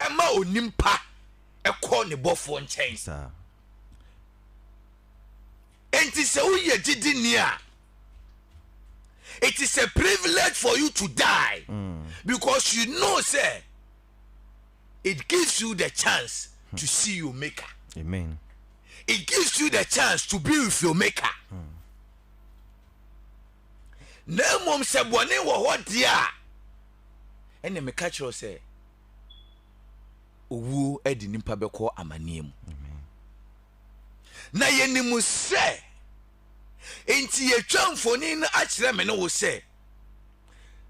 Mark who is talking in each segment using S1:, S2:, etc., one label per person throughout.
S1: ɛma onimpa kɔ ne bɔfoɔ nkyɛn enti sɛ woyɛ gyidini a it is a privilege for you to die mm. because you know sɛ it gives you the chance hmm. to see your maker. Amen.
S2: It gives
S1: you the chance to be with your maker. Hmm. na mmom sɛ bɔne wɔ hɔ deɛ a ɛne meka kyerɛw sɛ owuo de nipa bɛkɔ amanneɛ mu na yɛnim sɛ enti yɛtwa mfoni no akyerɛ me ne wo sɛ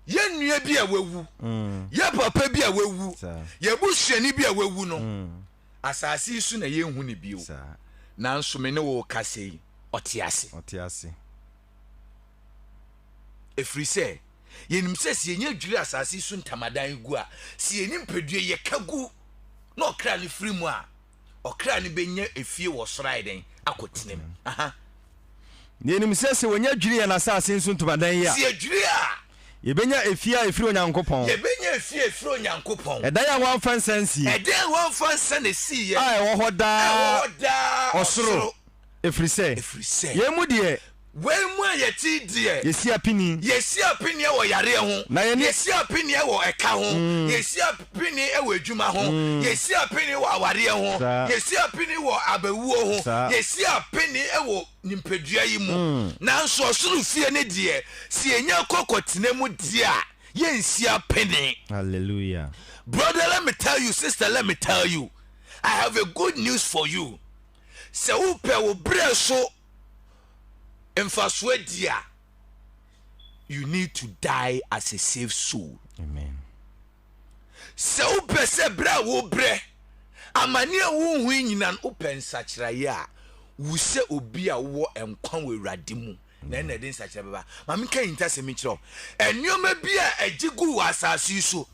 S1: yɛ nua bi a wawu mm. yɛ papa bi a wawu yɛ busuani bi a wawu no mm. asase yi so na yɛnhu ne bio nanso me ne wo kasa yi ɔte ase ɛfiri sɛ yɛnim sɛ sɛ yɛnya dwiri asase yi so ntamadan gu a sɛ yɛni mpadua yɛka gu na ɔkra no firi mu a ɔkra no bɛnya efie wɔ soro ayɛ dɛn akɔtena mu aha. Na
S2: yɛnim sɛ sɛ wɔnya dwiri yɛn asase nso ntomadan yi a. Sɛ yɛdwiri a.
S1: Yɛbɛnya efie
S2: a ɛfiri Onyankopɔn. Yɛbɛnya efie a ɛfiri
S1: Onyankopɔn. Ɛdan a wɔamfa nsa
S2: ansie. Ɛdan a wɔamfa
S1: nsa na ɛsiiɛ. A ɛwɔ hɔ daa. A ɛwɔ
S2: hɔ daa ɔsoro. Ɛfiri sɛ. Ɛfiri sɛ. Yei mu deɛ. Wei mu a yɛte
S1: yi deɛ. Yɛsi apini. Yɛsi
S2: apini wɔ
S1: yareɛ ho. Na yɛne. Yɛsi apini wɔ ɛka ho. Yɛsi apini wɔ adwuma ho. Yɛsi apini wɔ awareɛ ho. Saa. Yɛsi apini wɔ abawuo ho. Saa. Yɛsi apini wɔ nimpadua yi mu. Nanso ɔsoro fie no deɛ, sɛ yɛnya kɔ kɔtena mu deɛ a, yɛnsi apini. Hallelujah.
S2: Brother let me
S1: tell you, sister let me tell you, I have a good news for you. Sɛ wopɛ wo berɛ so mfasoɔ di a, you need to die as a saved soul. Amen. Sɛ wopɛ sɛ berɛ a wobrɛ amane a wonhu yi nyina no wopɛ nsakyeraeɛ a, wu sɛ obi a wowɔ nkwa wɔ Awurade mu na ɛna ɛde nsakyera bɛba. Ma menka ahintasɛm yi kyerɛ wo. Nneɛma bi a ɛgye gu wɔ asase yi so,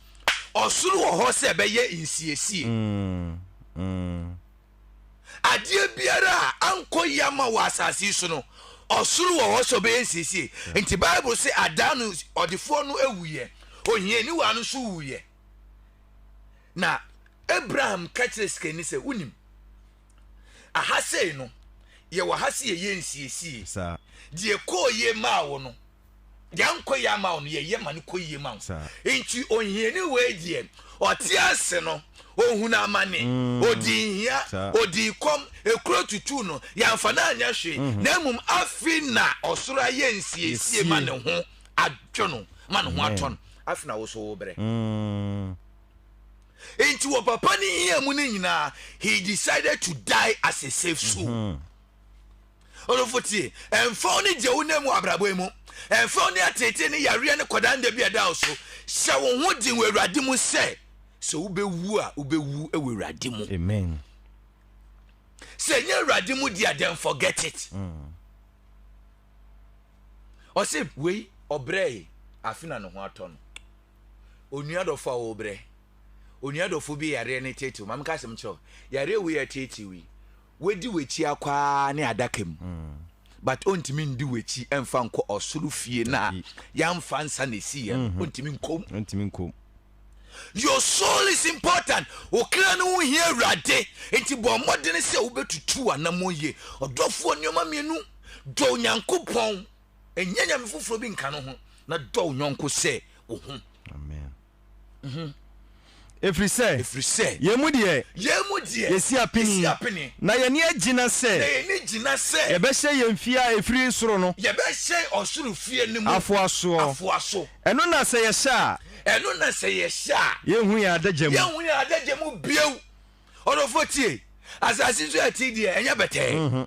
S1: ɔsoro wɔ hɔ sɛ ɛbɛyɛ nsiesie. Mm, mm. Adeɛ biara a ankɔ yie ama wɔ asase yi so no, ɔsoro wɔ hɔ sɛ ɔbɛyɛ nsiesie. Nti Bible se adaa no ɔdefoɔ no wuiɛ, ohiani waa no nso wuiɛ. Na Abraham ka kyerɛ sikani sɛ, wonim, aha sei no, yɛwɔ ha se yɛyɛ nsiesie. Deɛ
S2: ɛkɔɔ yie
S1: maa wo no, yɛn nkɔ yɛ ama wo no yɛyɛ ma no kɔ yie ma wo nti ohiani wei deɛ ɔte ase no ohunu amane mm. odi nhia odi kɔm ekuro tutu no yɛnfa no anyɛ hwee mhm. na mmom afi na ɔsoro ayɛ nsiesie ma ne ho adwo no ma ne ho atɔ no afi na woso wo brɛ mm. nti wɔ papa ne hia mu no nyinaa he decided to die as a safe soul. Mm -hmm. Ɔdɔfo tie, ɛmfa wo ne deɛ wonam mu abrabɔ yi mu, ɛmfa wo ne ateetee ne yareɛ ne kɔdaa nda bi a ɛda wo so, hyɛ wo ho den wɔ Awurade mu sɛ, sɛ wobɛwu a, wobɛwu wɔ Awurade mu. Amen. Sɛ ɛnyɛ Awurade mu deɛ, then forget it. Mm. Ɔse, wei, ɔbrɛe, afe na ne ho atɔ no. Onua dɔfo a wɔbrɛ, onua dɔfo bi yareɛ ne tetew, ma meka asɛm kyerɛ wo, yareɛ wei a ɛtetew yi, Wadi w'akyi akɔ ara ne adaka mu but ontumi ndi w'akyi mfa nkɔ ɔsoro fie no a yɛamfa nsa na esi yɛ no ontumi nkom. Ontumi nkom. Your soul is important. Okra no ho hia Awurade. Nti bɔ mmɔden sɛ wobɛtutu w'anammɔn yie. Ɔdɔfoɔ nneɛma mmienu, dɔ Onyankopɔn, ɛnyɛ nyame foforɔ bi nka no ho, na dɔ wo yɔnko sɛ wo ho. Amen.
S2: Mhm. Ɛfiri sɛ, Ɛfiri sɛ, yɛn mu deɛ, yɛn mu deɛ, yɛsi apini, yɛsi apini, na yɛn ani agyina sɛ na yɛn ani gyina sɛ yɛbɛhyɛn yɛn fie a ɛfiri soro no yɛbɛhyɛn ɔsoro
S1: fie no mu afoa soɔ. afoa so.
S2: Ɛno na sɛ yɛhyɛ a, Ɛno na sɛ yɛhyɛ a, yɛnhu yɛn adagya mu. yɛnhu yɛn adagya mu bio.
S1: Ɔdɔfoɔ tie, asase so a yɛte yi deɛ, ɛnyɛ bɛtɛɛ.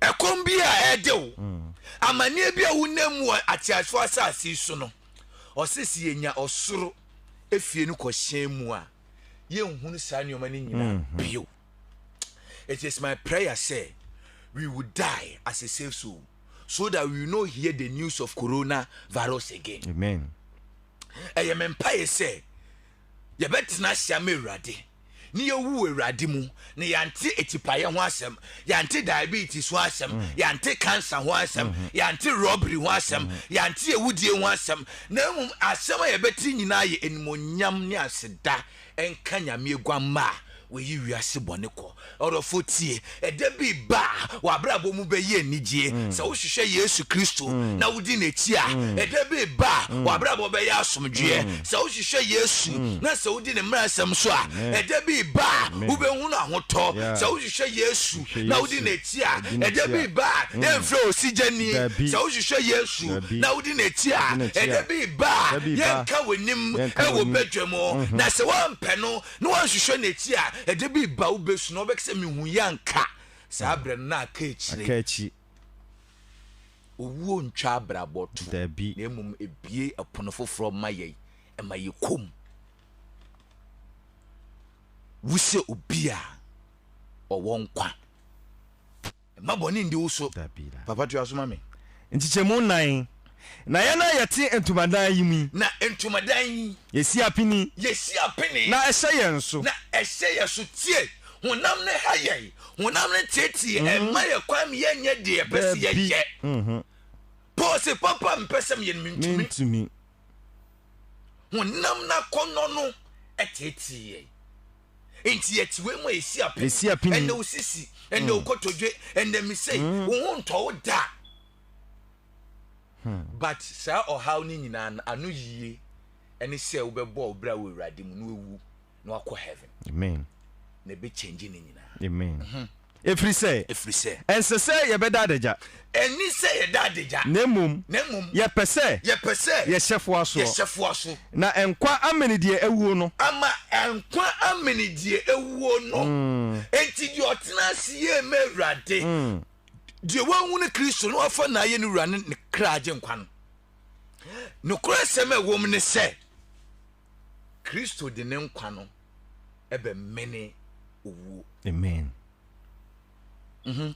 S1: ɛkɔm bi a ɛde wo mm. amanneɛ bi a wonam mu wɔ ateasefoɔ asase so no ɔsɛ sɛ yɛnya ɔsoro efie no kɔhyɛn mu a yɛnhunu saa nneɛma no nyinaa mm-hmm. bio it is my prayer sɛ we will die as a safe soul so that we will not hear the news of corona virus again amen
S2: ɛyɛ
S1: me mpaeɛ sɛ Yɛbɛtena ase ama Awurade, ne yɛawu wɔ Awurade mu, na yɛante atipaeɛ ho asɛm, yɛante diabetes ho asɛm, mm. yɛante cancer ho asɛm, mm -hmm. yɛante robbery ho asɛm, mm -hmm. yɛante awudie ho asɛm, na mmom asɛm a yɛbɛte nyinaa yɛ animonyam ne aseda nka Nyame aguamma a Woyi wiase bɔne kɔ. Ɔdɔfo, tie! Ɛda bi reba a w'abrabɔ mu bɛyɛ anigye. Sɛ wohwehwɛ Yesu Kristo na wodi n'akyi a, ɛda bi reba a w'abrabɔ bɛyɛ asomdwoeɛ. Sɛ wohwehwɛ Yesu na sɛ wodi ne mmaransɛm so a, ɛda bi reba a wobɛhunu ahotɔ. Sɛ wohwehwɛ Yesu na wodi n'akyi a, ɛda bi reba a yɛremfrɛ wo sigyani. Sɛ wohwehwɛ Yesu na wodi n'akyi a, ɛda bi reba a yɛrenka w'anim wɔ badwam. Na sɛ woampɛ no Na wanhwehwɛ n'akyi a ɛde bi ba wo bɛ su na ɔbɛka sɛ mehu yɛ anka saa berɛ no na aka akyire. Aka akyi. Owuo ntwa abrabɔ to. Dabi. Na mmom
S2: ɛbue
S1: ɛpono foforɔ ma yɛn, ɛma yɛ kɔm. Wo sɛ obi a ɔwɔ nkwa. Mma bɔne ndi wo so. Papa tua so
S2: ma me.
S1: Nkyekyɛmu nnan.
S2: Na yɛn a yɛte ntomadan yi mu yi. Na ntomadan
S1: yi. Yɛsi apini.
S2: Yɛsi apini. Na
S1: ɛhyɛ yɛn so. Na
S2: ɛhyɛ yɛn so. Tie!
S1: Honam no ha yɛn. Honam no teetee mma yɛn kwan ma yɛnyɛ deɛ yɛpɛ sɛ yɛyɛ. Paul se, Papa a mepɛ sɛ meyɛ no, mentumi. Honam no akɔnnɔ no teetee yɛn. Enti yɛte wei mu a yɛsi apini. Yɛsi apini. Ɛnna osisi, ɛnna mm. okotodwe, ɛnna misei. Mm. Wo ho ntɔ wo da. Hmm. But saa ɔhaw no nyinaa no ano yie ɛne sɛ wobɛbɔ ɔbrɛ wɔ awurade mu na wawu na wakɔ heaven. Amen.
S2: Na ɛbɛkyɛngye
S1: no nyinaa. Amen. Mm -hmm.
S2: Ɛfiri sɛ. Ɛfiri sɛ. Ɛnsɛ sɛ yɛbɛda adagya. Ɛnni sɛ yɛda
S1: adagya. Na mmom. Na mmom.
S2: Yɛpɛ sɛ. Yɛpɛ sɛ. Yɛhyɛ foasoɔ. Yɛhyɛ foaso. Na nkwa amene deɛ awuo no. Ama nkwa
S1: amene deɛ awuo no. Enti deɛ ɔtena ase yie ma Awurade. Deɛ wahunu Kristo na wafa no ayɛ ne wura ne ne kra agyenkwa no. Nokorɛ sɛm a ɛwom ne sɛ. Kristo de ne nkwa no bɛmene owuo. Amen.
S2: Mhm.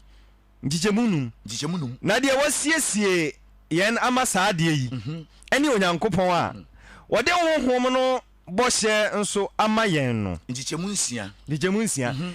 S2: Nkyekyɛmu num. Nkyekyɛmu num. Na deɛ wɔasiesie yɛn ama saa adeɛ yi mhm. ne Onyankopɔn a mhm. wɔde Honhom no bɔhyɛ nso ama yɛn no. Nkyekyɛmu nsia. Nkyekyɛmu nsia. Mhm.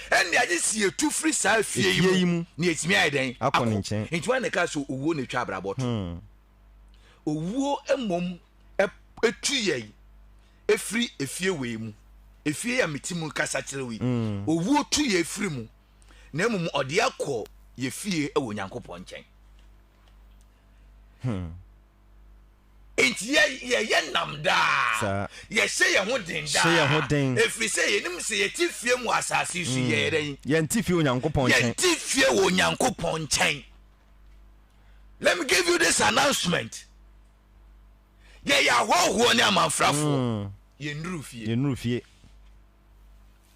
S1: Ɛnde agye sɛ yetu firi saa fie yi mu na yɛatumi ayɛ dɛn? Akɔ. Enti hwan na
S2: ɛkaa sɛ owuo
S1: na ɛtwa abrabɔ to? Owuo mmom tu yɛn firi efie wei mu, efie yi a mete mu kasa kyerɛ wo yi, owuo tu yɛn firi mu, na mmom ɔde yɛn akɔ yɛn fie wɔ Onyankopɔn nkyɛn. Enti yɛ, yɛyɛ nnam daa. Saa. Yɛhyɛ yɛn ho den daa. Hyɛ yɛn ho den. Ɛfiri sɛ yɛnim sɛ yɛte fie mu wɔ asase yi so, mm. yɛyɛ dɛn? Yɛnte fie wɔ Onyankopɔn
S2: nkyɛn. Yɛnte fie wɔ
S1: Onyankopɔn nkyɛn. Let me give you this announcement. Yɛyɛ ahɔhoɔ ne amanfrafoɔ. Mm. Yɛnnuru fie. Yɛnnuru fie.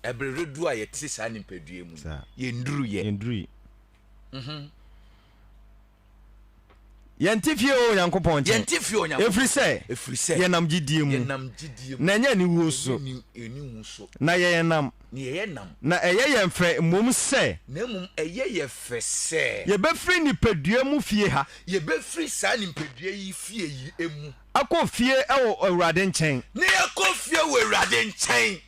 S1: Ɛberɛ dodoɔ a yɛte saa nipadua mu. Yɛnnuru yɛ. Yɛnnuru yi. Mm -hmm.
S2: Yɛnte fie wɔ Onyankopɔn nkyɛn. Yɛnte fie wɔ Onyankopɔn. Ɛfiri sɛ. Ɛfiri sɛ. Yɛnam gyidie mu. Yɛnam gyidie mu. Na ɛnyɛ aniwuo so. Ɛnyɛ aniwuo so. Na yɛyɛ nam. Na yɛyɛ nam. Na ɛyɛ yɛn fɛ mmom sɛ. Na mmom ɛyɛ
S1: yɛ fɛ sɛ. Yɛbɛfiri nipadua
S2: mu fie ha. Yɛbɛfiri saa
S1: nipadua yi fie yi mu. Akɔ fie
S2: wɔ Awurade nkyɛn. Na yɛakɔ fie
S1: wɔ Awurade nkyɛn.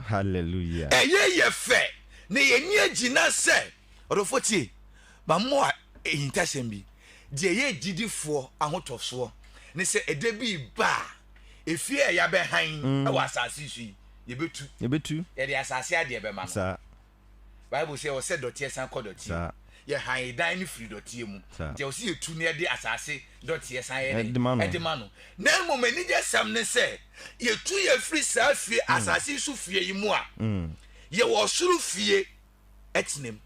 S1: Hallelujah.
S2: Ɛyɛ yɛ fɛ
S1: na yɛnni agyina sɛ. Ɔdɔfoɔ tie, mammɔ wo ahintasɛm bi, deɛ ɛyɛ agyidifoɔ ahotɔsoɔ ne sɛ ɛda bi reba a, efie a yɛabɛhan wɔ asase so yi, yɛbɛtu. Yɛbɛtu. Yɛde asase adeɛ bɛma no. Saa. bible sɛ ɔsɛ dɔteɛ san kɔ dɔteɛ mu yɛ han dan no firi dɔteɛ mu nti ɛwɔ sɛ yɛtu ne ɛde asase dɔteɛ san yɛ de ɛde ma no na mmom anigye sɛm ne sɛ yɛtu yɛ firi saa fie mm. asase so fie yi mu a mm. yɛwɔ ɔsoro fie ɛtenam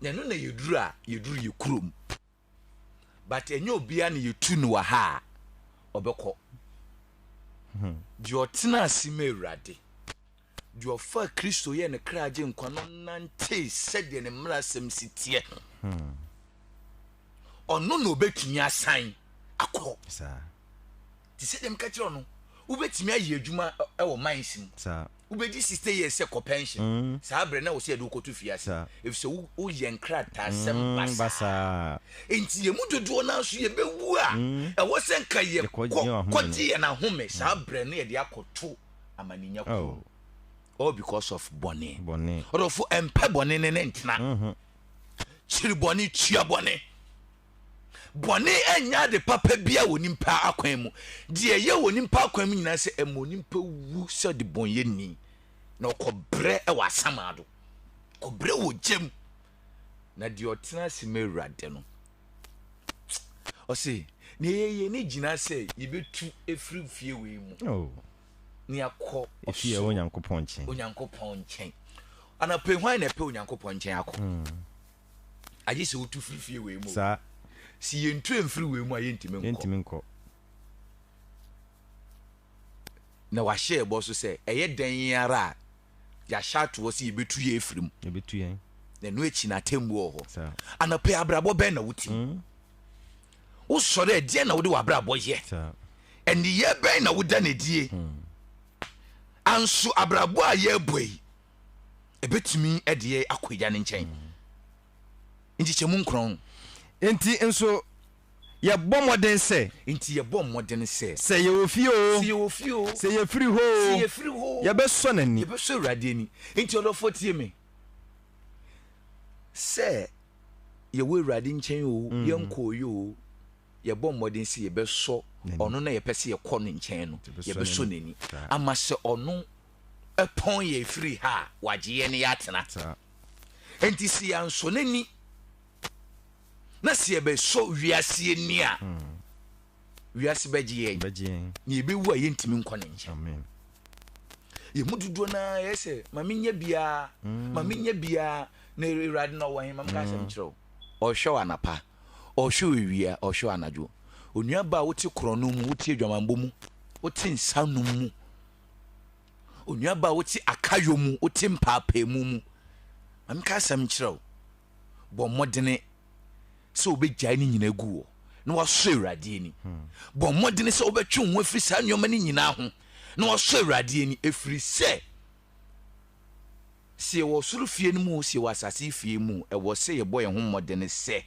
S1: na ɛno na yɛduru a yɛduru yɛ kurom but ɛnyɛ obiara na yɛtu no wɔ ha a ɔbɛkɔ hmm. deɛ ɔtena ase ma awurade deɛ ɔfa kristo yɛ ne kra gye nkwa no nante sɛdeɛ ne mmara asɛm si teɛ hmm. ɔno na ɔbɛtumi asan akɔ te sɛ dɛm ka kyerɛ no wobɛtumi ayɛ adwuma wɔ mines mu wobɛdi sixty years sɛ kɔ pension mm. saa berɛ na wɔ sɛ yɛde wokɔto fie ase ɛfisɛ woyɛ nkrataasɛm mm, basaa enti yɛ mu dodoɔ no nso yɛbɛwu a mm. ɛwɔ sɛ nka yɛkɔgye yɛn ahome saa berɛ no yɛde akɔto amaninya oh. kuro all because of bɔne ɔdɔfo ɛmpɛ bɔne ne ne ntena mm-hmm. kyiri bɔne tua bɔne Bɔne nyɛ ade papa biara wɔ onipa akwan mu. Deɛ ɛyɛ wɔ onipa akwan mu nyinaa sɛ ɛma onipa wu sɛ ɔdebɔnyɛni na ɔkɔbrɛ wɔ asamado, kɔbrɛ wɔ gya mu. Na deɛ ɔtena ase ma Awurade no, ɔse, na ɛyɛ yɛn ani gyina sɛ yɛbɛtu ɛfiri fie wei mu oh. na yɛakɔ ɔsoro Onyankopɔn
S2: nkyɛn. Onyankopɔn nkyɛn.
S1: Anapɛ hwan na ɛpɛ Onyankopɔn nkyɛn akɔ? Hmm. agye sɛ wotu firi fie wei mu. Saa. Si
S2: yɛn ntu
S1: mfiri wei mu a yɛntumi nkɔ. Yɛntumi nkɔ. Na wahyɛ ɛbɔ so sɛ ɛyɛ dɛn yɛn ara a yɛahyɛ atoɔ sɛ yɛbɛtu yɛn afiri mu. Yɛbɛtu yɛn.
S2: Na ɛno akyi na
S1: atemmuo wɔ hɔ. Saa. Anɔpɛ abrabɔ bɛn na wotim? Mm. Wosɔre a deɛ na wode w'abrabɔ yɛ? Saa. Ɛneyɛ bɛn na woda no adie? Mm. Anso abrabɔ a yɛrebɔ yi, ɛbɛtumi de yɛ akɔ agya no nkyɛn nkyekyɛmu nkron. Nti
S2: nso yɛbɔ mmɔden sɛ. Nti yɛbɔ mmɔden
S1: sɛ. Sɛ yɛwɔ fie o.
S2: Sɛ yɛwɔ fie o. Sɛ yɛfiri hɔ o. Sɛ yɛfiri hɔ o.
S1: Yɛbɛsɔ n'ani.
S2: Yɛbɛsɔ Awurade ani.
S1: Nti ɔdɔfoɔ tie me. Sɛ yɛwɔ Awurade nkyɛn o, mm. yɛnkɔɔyɛ o, yɛbɔ mmɔden sɛ yɛbɛsɔ ɔno na yɛpɛ sɛ yɛkɔ ne nkyɛn no yɛbɛsɔ n'ani ama sɛ ɔno pɔn yɛn firi ha a, wagye yɛn ne yɛatena. Enti sɛ yɛansɔ n'ani na sɛ yɛbɛsɔ wiase ani a, hmm. wiase bɛgye yɛn na yɛbɛwu a yɛntumi nkɔ ne nkyɛn. Yɛn mu dodoɔ no ara yɛ sɛ ma menyɛ biara ma hmm. menyɛ biara na awurade na ɔwɔ he ma meka asɛm kyerɛ wo ɔhwɛ wo anapa ɔhwɛ wo awia ɔhwɛ wo anadwo onua ba a wote korɔno mu wote adwamanbɔ mu wote nsa nom mu Onua baa a wote akayɔ mu, wote mpaapaemu mu, ma menka asɛm nkyerɛ wo, bɔ mmɔdene sɛ wobɛgyae ne nyinaa gu wɔ na wasɔ Awurade ani. Hmm. Bɔ mmɔdene sɛ wobɛtwe wo ho afiri saa nneɛma no nyinaa ho na wasɔ Awurade ani, ɛfiri sɛ sɛ yɛwɔ ɔsoro fie no mu o, sɛ yɛwɔ asase fie mu o, ɛwɔ sɛ yɛbɔ yɛn ho mmɔden sɛ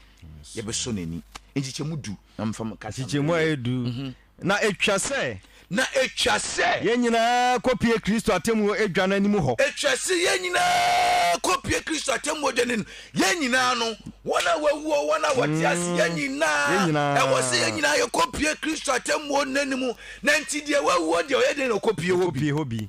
S1: yɛbɛsɔ n'ani. Nkyekyɛmu du na mfa mu kasa. Nkyekyɛmu a ɛyɛ du. Mhm.
S2: Na etwa sɛ. Na etwa sɛ.
S1: Yɛn nyinaa
S2: kɔpue Kristo atemmuo adwa no anim hɔ. Etwa sɛ yɛn nyinaa
S1: kɔpue Kristo atemmuo adwa no anim. Yɛn nyinaa no, wɔn a wɔawu o, wɔn a wɔte ase, yɛn nyinaa, Yɛn nyinaa. ɛwɔ sɛ yɛn nyinaa yɛkɔpue Kristo atemmuo no anim. Na nti deɛ wawu o deɛ ɔyɛ dɛn na ɔkɔpue hɔ bi? Kɔpue hɔ bi.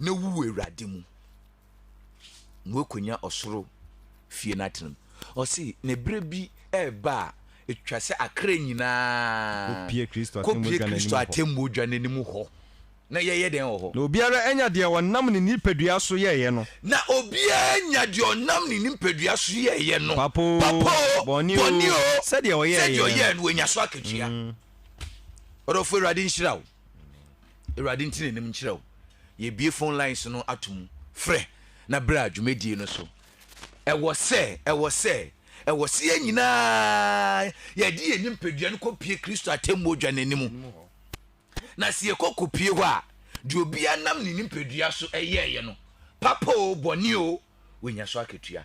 S1: na wu wɔ Awurade mu, na woakonya ɔsoro fie no atena mu. Ɔse, na ɛberɛ bi ɛreba a, ɛtwa sɛ akra nyinaa kɔpie Kristo
S2: atemmuo
S1: dwa no anim hɔ, na yɛyɛ dɛn wɔ hɔ? Na obiara anya deɛ
S2: ɔnam ne nipadua so yɛeɛ no. Na obiara
S1: anya deɛ ɔnam ne nipadua so yɛeɛ no, papa oo,
S2: bɔne oo, sɛdeɛ ɔyɛeɛ no, wanya so
S1: akatua. Ɔdɔfoɔ, Awurade nhyira wo. awurade nti n'anim nkyerɛ wo yɛbie phone lines no ato mu frɛ na berɛ a dwumadie no so ɛwɔ sɛ ɛwɔ sɛ ɛwɔ sɛ yɛn nyinaa yɛde yɛn nipadua no kɔpie kristo atemmuo dwa n'anim na sɛ yɛkɔ kɔpie hɔ a deɛ obia nam ne nipadua so ɛyɛɛyɛ no papa o bɔne o wɔnya so akatua